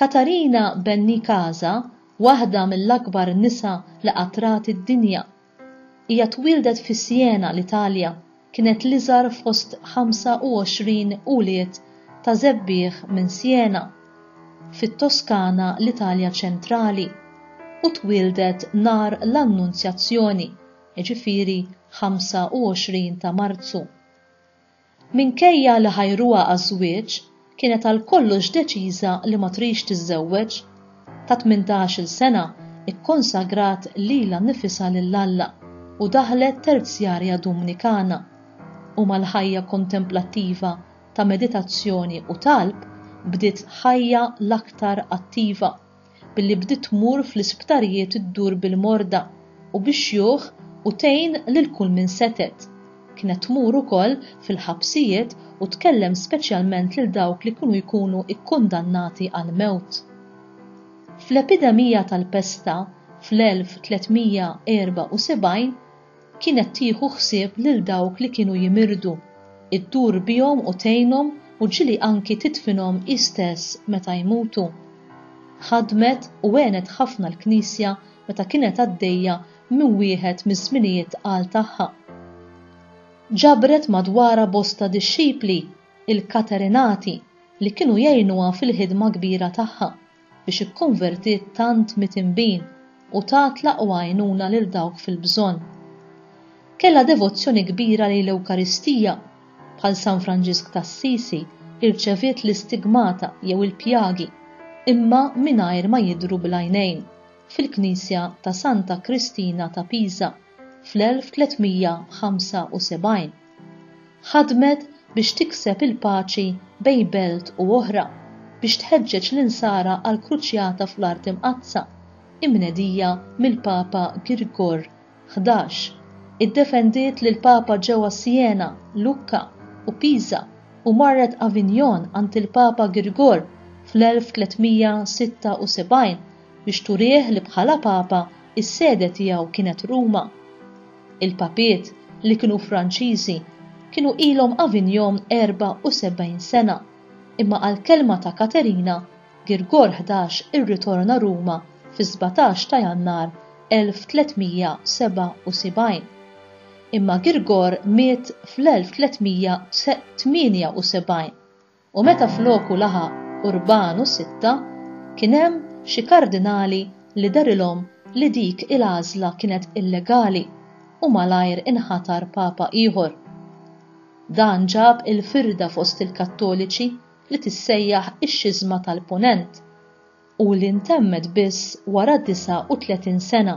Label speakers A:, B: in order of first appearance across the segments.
A: Katarina Benincasa waħda mill-akbar nisa li qatt rat id-dinja. Hija twieldet fi Siena, l-Italja, kienet l-iżgħar fost 25 ulied ta' żebbiegħ minn Siena, fit-Toskana, l-Italja ċentrali, u twieldet nhar l-Annunzjazzjoni, jiġifieri 25 ta' Marzu. Minkejja li ħajruha għaż-żwieġ, kienet għal kollox deċiża li ma tridx tiżżewweġ. Ta' tmintax-il sena, ikkonsagrat lilha nnifisha lil Alla u daħlet terzjarja Dumnikana. U mal-ħajja kontemplattiva ta' meditazzjoni u talb bdiet ħajja l-aktar attiva. billi bdiet tmur fl-isptarijiet iddur bil-morda u bix-xjuħ u tgħin lil kull min setgħet. Kienet tmur ukoll fil-ħabsijiet u tkellem speċjalment lil dawk li kienu jkunu kkundannati għall-mewt. Fl-epidemija tal-pesta fl-1374, Kienet tieħu ħsieb lil dawk li kienu jimirdu, iddur bihom u tgħinhom u ġieli anki tidfinhom hi stess meta jmutu. Ħadmet u għenet ħafna l-Knisja meta kienet għaddejja minn wieħed miż-żminijiet tqal tagħha. Ġabret madwarha bosta dixxipli, il-Katerinati, li kienu jgħinuha fil-ħidma kbira tagħha. biex ikkonvertiet tant miet inbin u tat l-aqwa għajnuna lil dawk fil-bżonn. Kellha devozzjoni kbira lejn l-Ewkaristija. Bħal San Franġisk t'Assisi, irċeviet l-istigmata jew il-pjagi, imma mingħajr ma jidhru bl-għajnejn, fil-knisja ta' Santa Kristina ta' Pisa fl-1375. Ħadmet biex tikseb il-paċi bejn belt u oħra, biex tħeġġeġ l-Insara għall-kruċjata fl-Art Imqaddsa, imnedija mill-Papa Girgor Ħdax, iddefendiet lill-Papa ġewwa Siena, Lucca, u Pisa, u marret Avignon għand il-Papa Girgor fl-1376 biex turih li bħala Papa s-sede tiegħu kienet Ruma. Il-Papiet, li kienu Franċiżi, kienu ilhom Avignon 74 sena, imma għall-kelma ta' Katerina, Girgor Ħdax irritorna Ruma fis-sbatax ta' Jannar 1377. Imma Girgor miet fl-1378. u meta floku laħaq Urbanu Sitta kien hemm xi kardinali li dehrilhom li dik il-għażla kienet illegali u malajr inħatar Papa ieħor. Dan ġab il-firda fost il-Kattoliċi li tissejjaħ ix-Xiżma tal-Punent u li ntemmet biss wara 39 sena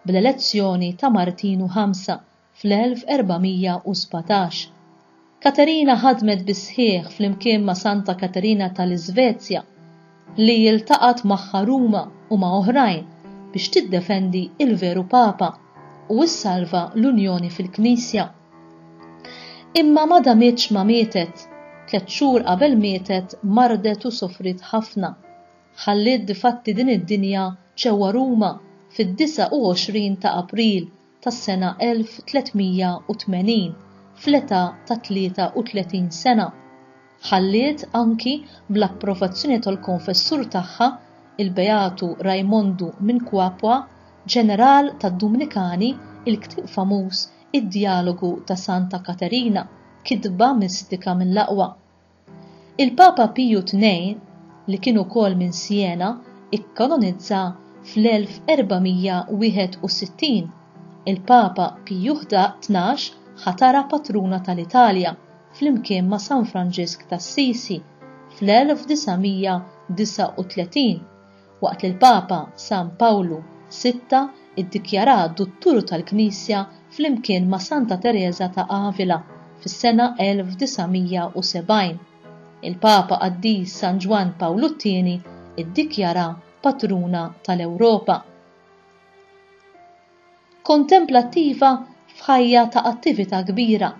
A: bl-elezzjoni ta' Martinu Ħamsa fl-1417. Katerina ħadmet bis-sħiħ flimkien ma' Santa Katerina tal-Iżvezja, li ltaqgħet magħha Ruma u ma' oħrajn biex tiddefendi l-veru Papa u ssalva l-unjoni fil-Knisja. Imma ma damitx ma mietet, tliet xhur qabel mietet mardet u sofriet ħafna. Ħalliet difatti din id-dinja ġewwa Ruma fid-29 ta' April tas-sena 1380 fl-età ta' 33 sena, ħalliet anki bl-approvazzjoni tal-konfessur tagħha, il-Beatu Raimondu minn Cuapua, ġeneral tad-Dumnikani, il-ktieb famuż Id-Djalogu ta' Santa Katerina, kitba mistika mill-aqwa. Il-Papa Piju Tnej, li kien ukoll minn Siena, ikkanonizza fl-1461. Il-Papa Piju Tnax ħatarha patruna tal-Italja, flimkien ma' San Franġisk t'Assisi, fl-1939. waqt li l-Papa San Pawlu Sitta ddikjarah Dutturu tal-Knisja flimkien ma' Santa Tereża ta' Avila fis-sena 1970. Il-Papa Qaddis San Ġwann Pawlu t-Tieni ddikjarah Patruna tal-Ewropa. Kontemplattiva f'ħajja ta' attività kbira.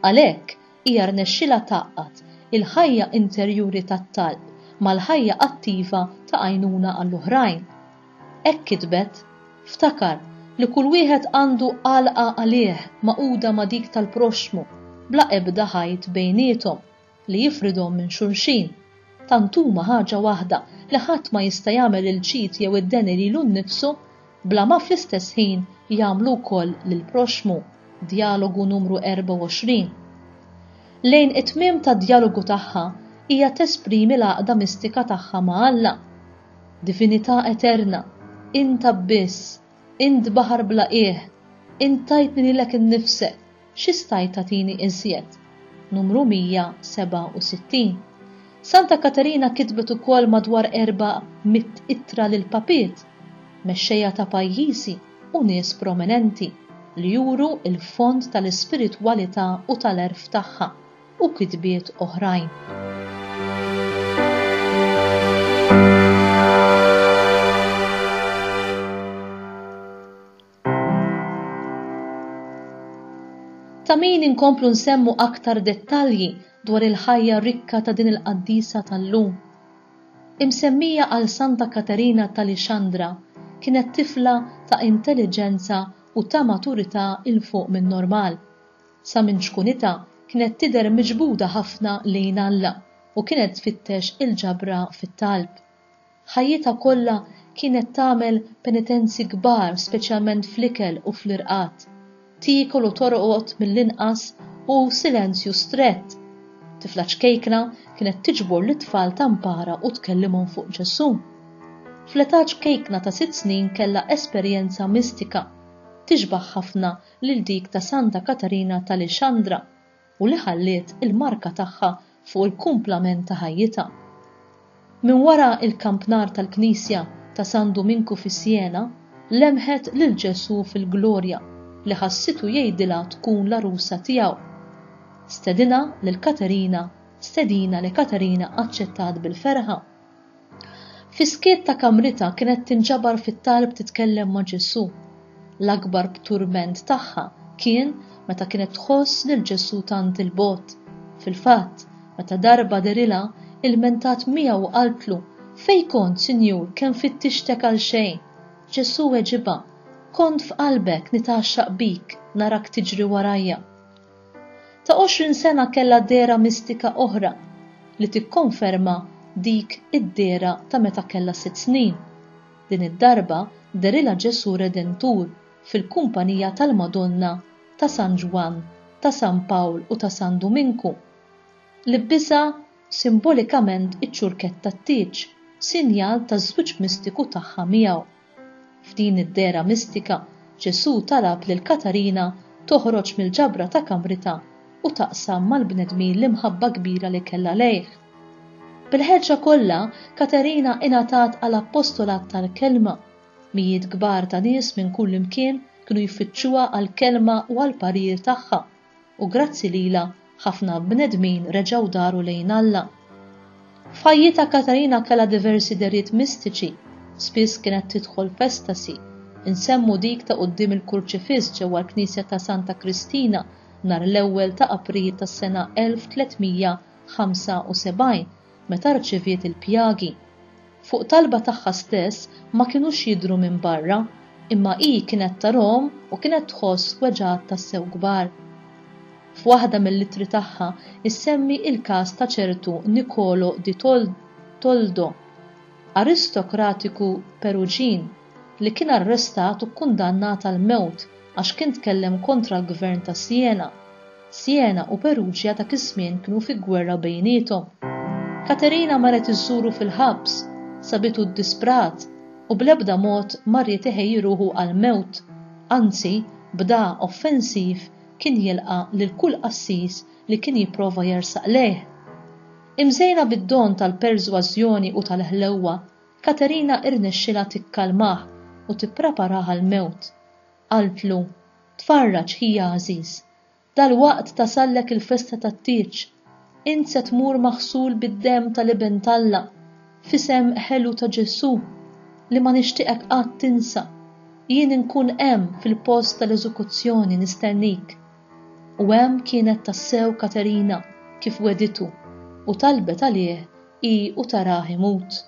A: Għalhekk, hija rnexxilha tgħaqqad il-ħajja interjuri tat-talb mal-ħajja attiva ta' għajnuna għall-oħrajn. Hekk kitbet, Ftakar li kull wieħed għandu għalqa għalih magħquda ma' dik tal-proxxmu, bla ebda ħajt bejniethom. li jifridhom minn xulxin, tant huma ħaġa waħda li ħadd ma jista' jagħmel il-ġid jew id-deni lilu nnifsu, bla ma fl-istess ħin jagħmlu wkoll lill-proxxmu, Djalogu Numru 24. Lejn it-tmiem tad-djalogu tagħha, hija tesprimi l-għaqda mistika tagħha ma' Alla, Divinità eterna, int abbiss, int baħar bla qiegħ, int tajtni lilek innifsek, Xi stajt tagħtini iżjed? Numru 167. Santa Katerina kitbet ukoll madwar erba' mitt ittra lil papiet, mexxejja ta' pajjiżi u nies prominenti li juru l-fond tal-ispiritwalità u tal-għerf tagħha, u kitbiet oħrajn. Ta' min inkomplu nsemmu aktar dettalji dwar il-ħajja rikka ta' din il-qaddisa tal-lum. Imsemmija għal Santa Katerina t'Alixandra, kienet tifla ta' intelliġenza u ta' maturità 'il fuq min-normal. Sa minn ċkunitha kienet tidher miġbuda ħafna lejn Alla u kienet tfittex il-ġabra fit-talb. Ħajjitha kollha kienet tagħmel penitenzi kbar speċjalment fl-ikel u fl-irqad. Tiekol u torqod mill-inqas u silenzju strett. Tifla ċkejkna kienet tiġbor lit-tfal ta' mpara u tkellimhom fuq Ġesù. Fl-età ċkejkna ta' sitt snin kellha esperjenza mistika, tixbah ħafna lil dik ta' Santa Katarina ta' Lixandra. u li ħalliet il-marka tagħha fuq il-kumplament ta' ħajjitha. Minn wara l-kampnar tal-knisja ta' San Duminku fi Siena, lemħet lil Ġesù fil-glorja li ħassitu jgħidilha tkun l-għarusa tiegħu. Stedinha lil Katerina, stedina li Katerina aċċettat bil-ferħa. Fis-skiet ta' kamritha kienet tinġabar fit-talb titkellem ma' Ġesù. L-akbar turment tagħha kien meta kienet tħoss lil Ġesù tant 'il bogħod. Fil-fatt, meta darba dehrilha, ilmentat miegħu u qaltlu, Fejn kont, Sinjur, kemm fittixtek għal xejn? Ġesù weġibha, Kont f'qalbek nitgħaxxaq bik, narak tiġri warajja. ta' għoxrin sena kellha dehra mistika oħra li tikkonferma dik id-dehra ta' meta kellha sitt snin. Din id-darba dehrilha Ġesù Redentur fil-kumpanija tal-Madonna, ta' San Ġwann, ta' San Pawl u ta' San Duminku. Libbisha simbolikament iċ-ċurkett tat-tieġ, sinjal taż-żwieġ mistiku tagħha miegħu. F'din id-dehra mistika, Ġesù talab lil Katarina toħroġ mill-ġabra ta' kamritha u taqsam mal-bnedmin l-imħabba kbira li kellha lejh. Bil-ħeġġa kollha, Katarina ingħatat għal appostolat tal-kelma. Mijiet kbar ta' nies minn kullimkien kienu jfittxuha għall-kelma u għall-parir tagħha. u grazzi lilha ħafna bnedmin reġgħu daru lejn Alla. F'ħajjitha Katarina kellha diversi dehriet mistiċi, spiss kienet tidħol f'estasi, insemmu dik ta' quddiem il-Kurċifiss ġewwa l-Knisja ta' Santa Kristina nhar l-ewwel ta' April tas-sena 1375, meta rċeviet il-pjagi. Fuq talba tagħha stess ma kinux jidhru minn barra, imma hi kienet tarahom u kienet tħoss weġgħat tassew kbar. F'waħda mill-ittri tagħha ssemmi l-każ ta' ċertu Nicolo di Toldo, aristokratiku Peruġin, li kien arrestat u kkundannat għall-mewt għax kien tkellem kontra l-gvern ta' Siena. Siena u Perugia dak iż-żmien kienu fi gwerra bejniethom. Katerina marret iżżuru fil-ħabs, sabitu ddisprat u bl-ebda mod ma ried iħejji ruħu għall-mewt, anzi, b'da offensiv kien jilqa' lil kull qassis li kien jipprova jersaq lejh. Imżejna bid-don tal-persważjoni u tal-ħlewwa, Katerina irnexxielha tikkalmah u tippreparah għall-mewt. Qaltlu, Tfarraġ, ħija għażiż. Dalwaqt tasallek il-festa tat-tieġ. Int se tmur maħsul bid-demm tal-Iben t'Alla, f'isem ħelu ta' Ġesù, li ma nixtieqek qatt tinsa. Jien inkun hemm fil-post tal-eżekuzzjoni nistennik. U hemm kienet tassew Katerina, kif wegħditu, u talbet għalih hi u tarah imut.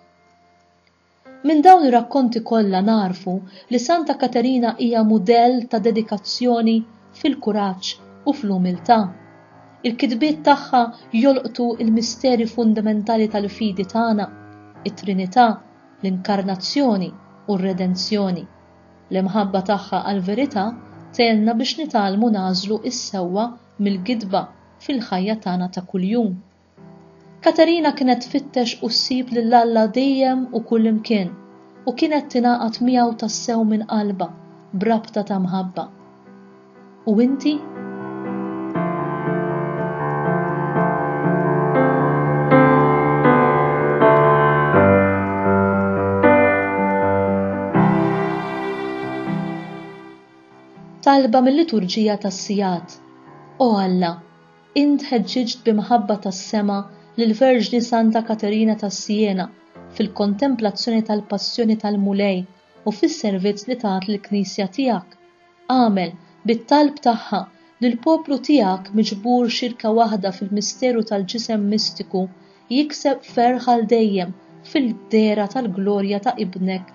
A: Minn dawn ir-rakkonti kollha nagħrfu li Santa Katerina hija mudell ta' dedikazzjoni fil-kuraġġ u fl-umiltà. Il-kitbiet tagħha jolqtu l-misteri fundamentali tal-fidi tagħna, it-Trinità, l-Inkarnazzjoni u r-Redenzjoni. L-imħabba tagħha għall-verità tgħinna biex nitgħallmu nagħżlu s-sewwa mill-gidba fil-ħajja tagħna ta' kuljum. Katerina kienet tfittex u ssib lil Alla dejjem u kullimkien u kienet tingħaqad miegħu tassew minn qalbha b'rabta ta' mħabba. U inti? Talba mil-Liturġija tas-Sigħat O Alla, Int ħeġġiġt bi mħabba tas-sema lill-Verġni Santa Katerina ta' Siena fil-kontemplazzjoni tal-Passjoni tal-Mulej u fis-servizz li tat lill-Knisja tiegħek. Agħmel, bit-talb tagħha, li l-poplu tiegħek miġbur xirka waħda fil-misteru tal-Ġisem Mistiku jikseb ferħ għal dejjem fil-dehra tal-glorja ta' Ibnek